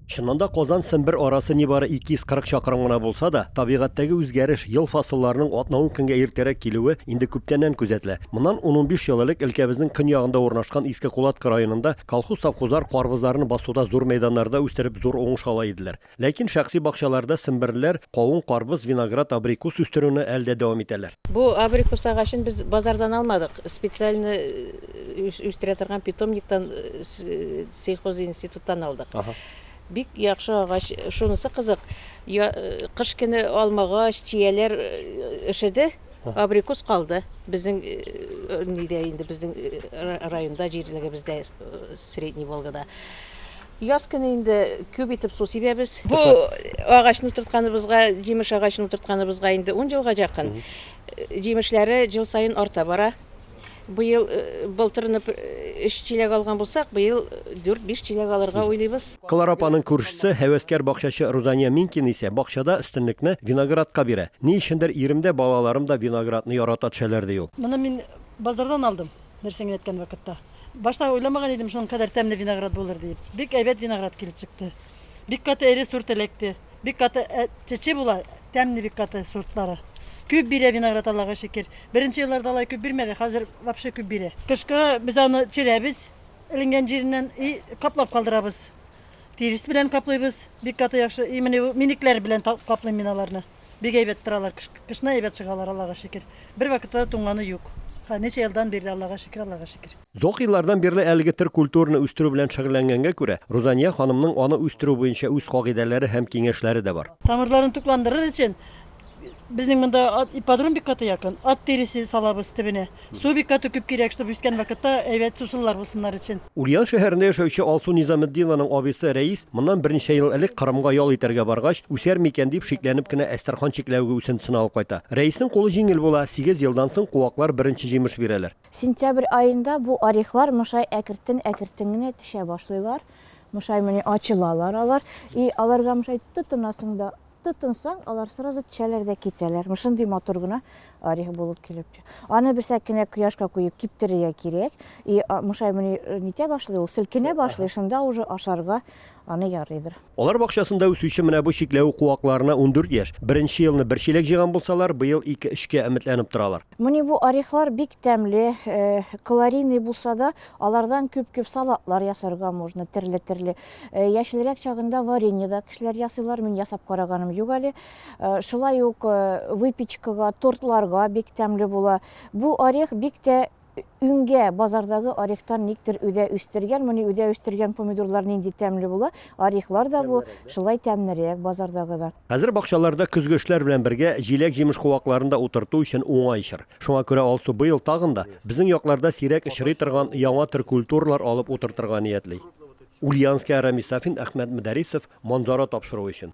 Чыннан да, Казан-Сембер арасы нибары 240 чакрым гына булса да, табигатьтәге үзгәреш, ел фасылларының атна-ун көнгә иртәрәк килүе инде күптәннән күзәтелә. Моннан ун-унбиш ел элек өлкәбезнең көньягында урнашкан Иске Кулатка районында колхоз-совхозлар карбызларны басуда зур мәйданнарда үстереп зур уңыш ала иделәр. Ләкин шәхси бакчаларда семберлеләр кавын, карбыз, виноград, абрикус үстерүне әле дә дәвам итәләр. Бу абрикус агачын без базардан алмадык, специальный үстерә торган питомниктан, Сельхозинституттан алдык. Бик яхшы агач. Шунысы кызык, кыш көне алмагач, чияләр эшеде, абрикус калды. Безнең нидә инде, безнең районда, җирлегебездә, Средний Волгада. Яз көне инде күп итеп су сибәбез. Бу агачны утыртканыбызга, җимеш агачын утыртканыбызга инде ун елга якын. Җимешләре ел саен арта бара. Быел былтырны өч чиләк алган булсак, быел дүрт-биш чиләк алырга уйлыйбыз. Клара апаның күршесе, һәвәскәр бакчачы Рузания Минкина исә бакчада өстенлекне виноградка бирә. Ни өчендер ирем дә, балаларым да виноградны ярата төшәләр, ди ул. Моны мин базардан алдым, нәрсә генә әйткән вакытта. Башта уйламаган идем, шуның кадәр тәмле виноград булыр диеп. Бик әйбәт виноград килеп чыкты. Бик каты эре сорт эләкте. Бик каты э, чече була, тәмне бик каты сортлары. Күп бирә виноград Аллага шөкер. Беренче елларда алай күп бирмәде, хәзер вообще күп бирә. Кышка без аны черәбез, эленгән җиреннән и каплап калдырабыз. Тирес белән каплыйбыз, бик каты яхшы. И менә минекләр белән каплыйм мин аларны. Бик әйбәт торалар, кышны әйбәт чыгалар Аллага шөкер. Бер вакытта да туңганы юк. Ничә елдан бирле Аллага шөкер, Аллага шөкер. Озак еллардан бирле әлеге төр культураны үстерү белән шөгыльләнгәнгә күрә, Рузания ханымның аны үстерү буенча үз кагыйдәләре һәм киңәшләре дә бар. Тамырларын тукландырыр өчен безнең монда ипподром бик каты якын. Ат тиресе салабыз төбенә. Су бик каты күп кирәк, чтобы үскән вакытта әйбәт сусыллар булсыннар өчен. Ульян шәһәрендә яшәүче Алсу Низаметдинованың абыйсы Рәис моннан берничә ел элек Кырымга ял итәргә баргач, үсәр микән дип шикләнеп кенә Әстерхан чикләвеге үсентесен алып кайта. Рәиснең кулы җиңел була, сигез елдан соң куаклар беренче җимеш бирәләр. Сентябрь аенда бу орехлар мышай әкертен-әкертен генә төшә башлыйлар. Мышай мени ачылалар алар. И аларга мышай тотынасың да, тотынсаң, алар сразу төшәләр дә китәләр. Мышындый матур гына орех булып килеп төшә. Аны берсәк кенә кояшка куеп киптерергә кирәк. И мышай мени нитә башлый ул, селкенә башлый, шунда уже ашарга аны ярыйдыр. Алар бакчасында үсүче менә бу чикләвек куакларына ундүрт яшь. Беренче елны бер чиләк җыйган булсалар, быел ике-өчкә өметләнеп торалар. Мени бу орехлар бик тәмле, калорийный булса да, алардан күп-күп салатлар ясарга можно, терле-терле. Яшелрәк чагында варенье да кешеләр ясыйлар, мин ясап караганым юк әле. Шулай ук выпечкага, тортларга бик тәмле була. Бу орех бик тә Үңгә базардагы орехтан никтер үдә үстергән, моны үдә үстергән помидорлар нинди тәмле була, орехлар да бу шулай тәмнерәк базардагыдан. Хәзер бакчаларда көзге эшләр белән бергә җиләк-җимеш куакларын да утырту өчен уңай чор. Шуңа күрә Алсу быел тагын да безнең якларда сирәк очрый торган яңа төр культуралар алып утыртырга ниятли. Ульянская Рамис Сафин Әхмәт Мөдәрисов Манзара тапшыруы өчен.